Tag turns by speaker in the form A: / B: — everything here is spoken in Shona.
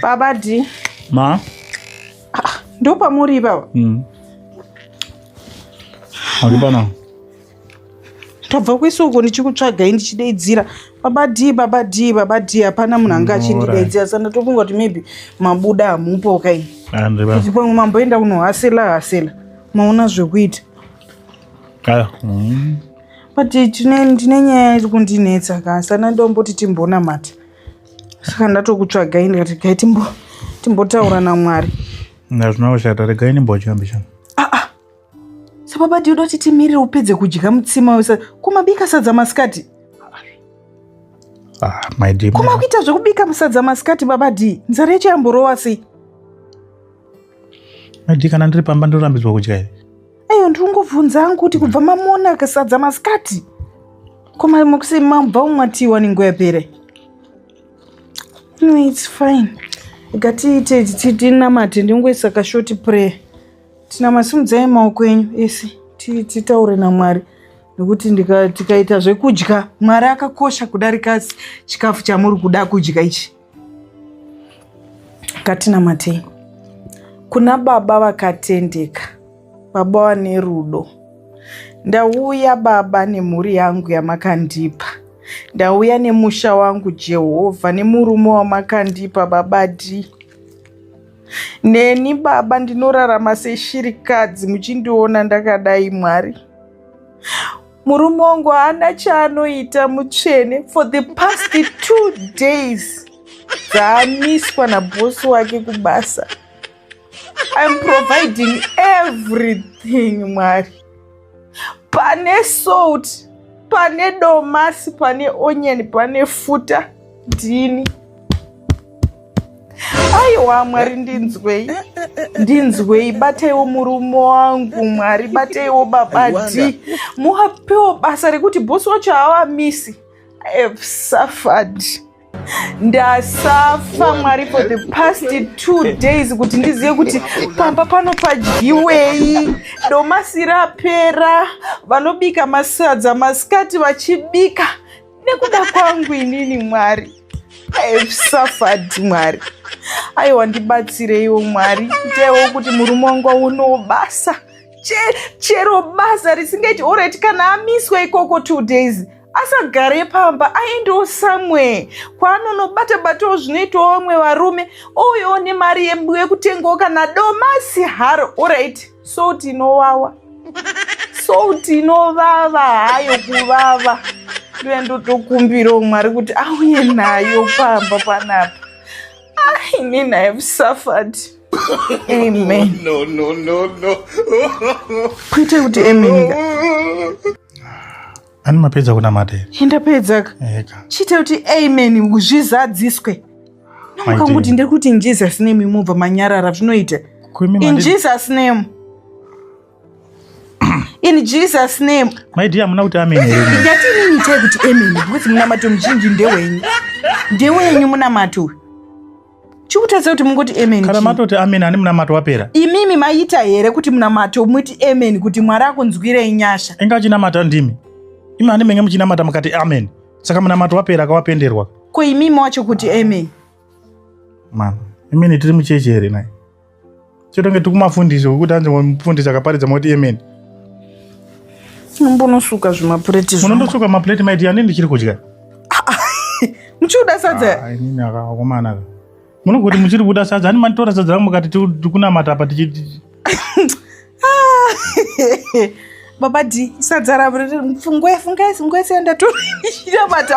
A: Baba D. Ma.
B: Ah,
A: ndo pamuri baba.
B: Mm. Ari pana.
A: Tabva kuisa uko ndichikutsvagai ndichidaidzira. Baba D, baba D, baba D hapana munhu anga achindidaidzira. Saka ndatofunga kuti maybe mabuda hamupo kai. Andri baba. Ndipo mamboenda kunohasela hasela. Maona zvekuita.
B: Aya. Mm.
A: but ndine nyaya iri kundinetsa ka sana ndomboti timbonamata saka ndatokutsvagai ndikati gai timbotaura namwari nazvina kushata
B: regai nimbochambisha aa ah, ah.
A: sababa ndioda kuti timirire upedze kudya mutsima wese kumabika sadza masikati
B: ah, kuma kuita zvekubika musadza
A: masikati baba d nzara yacho yamborowa sei
B: maidi kana ndiri pamba ndinorambidzwa kudya here Ayo ndikungobvunza
A: hangu kuti kubva mamona kasadza masikati koma mukusi mabva umwatiwa nenguva yapere no its fine ikatiite tinamate ndingoisa kashoti prayer tinamasimudzai maoko enyu ese titaure namwari nekuti tikaita zvekudya mwari akakosha kudarika chikafu chamuri kuda kudya ichi Ngatinamatei kuna baba vakatendeka, baba vane rudo. Ndauya baba nemhuri yangu yamakandipa, ndauya nemusha wangu Jehovha, nemurume wamakandipa baba dii neni baba ndinorarama seshirikadzi muchindiona ndakadai mwari Murume wangu haana chaanoita mutsvene for the past two days dzaamiswa nabhosi wake kubasa. I'm providing everything mwari. Pane salt, pane domasi, pane onion, pane futa, ndini. aiwa mwari ndinzwei ndinzwei bataiwo murume wangu mwari bataiwo babadi muwapewo basa rekuti bosi wacho haavamisi i have suffered ndasafa mwari for the past two days kuti ndizive kuti pamba pano padyiwei domasi rapera vanobika masadza masikati vachibika nekuda kwangu inini mwari safad mwari aiwa ndibatsireiwo mwari itewo kuti murume wangu aunewo basa chero basa risingaiti orit kana amiswa ikoko two days asagare pamba aendewo somewhere kwaanonobata batawo zvinoitawo vamwe varume ouyawo nemari yekutengawo kana domasi haro orit salt inowawa salt inovava hayo kuvava ndiye ndotokumbirawo mwari kuti auye nayo pamba panapa ah, inini i have suffered amen no, no, no,
B: no.
A: kuite kuti amen
B: Ani mapedza kunamata here? Indapedza ka.
A: Eka. Chita kuti amen zvizadziswe. Namukanguti ndiri kuti in Jesus name mubva manyarara zvinoita. In Jesus name. In Jesus name. My dear muna kuti amen
B: here? Ndati nini chai kuti
A: amen because munamato muzhinji ndewenyu. Ndewenyu munamato uyu. chikutadza kuti mungoti amen kana matoti amen ani
B: munamato wapera imimi maita
A: here kuti munamato muti amen kuti mwari akunzwirei nyasha inga achinamata ndimi
B: imi ani menge muchinamata mukati amen saka munamato wapera akawapenderwa ko imimi wacho
A: kuti amen
B: mama imini tiri muchechi here naye chotonge tikumafundisi wekuti anzi mufundisi akaparidza moti amen
A: mbonosuka zvimapureti munondosuka mapureti maiti ani
B: ndichiri kudya
A: muchiuda sadza ah, inini akakomana
B: munogoti muchiri kuda sadza ani manitora sadza rangu mukati tikunamata apa tichiti ah,
A: baba d sadza ravo fungue fungai fungai senda torinamata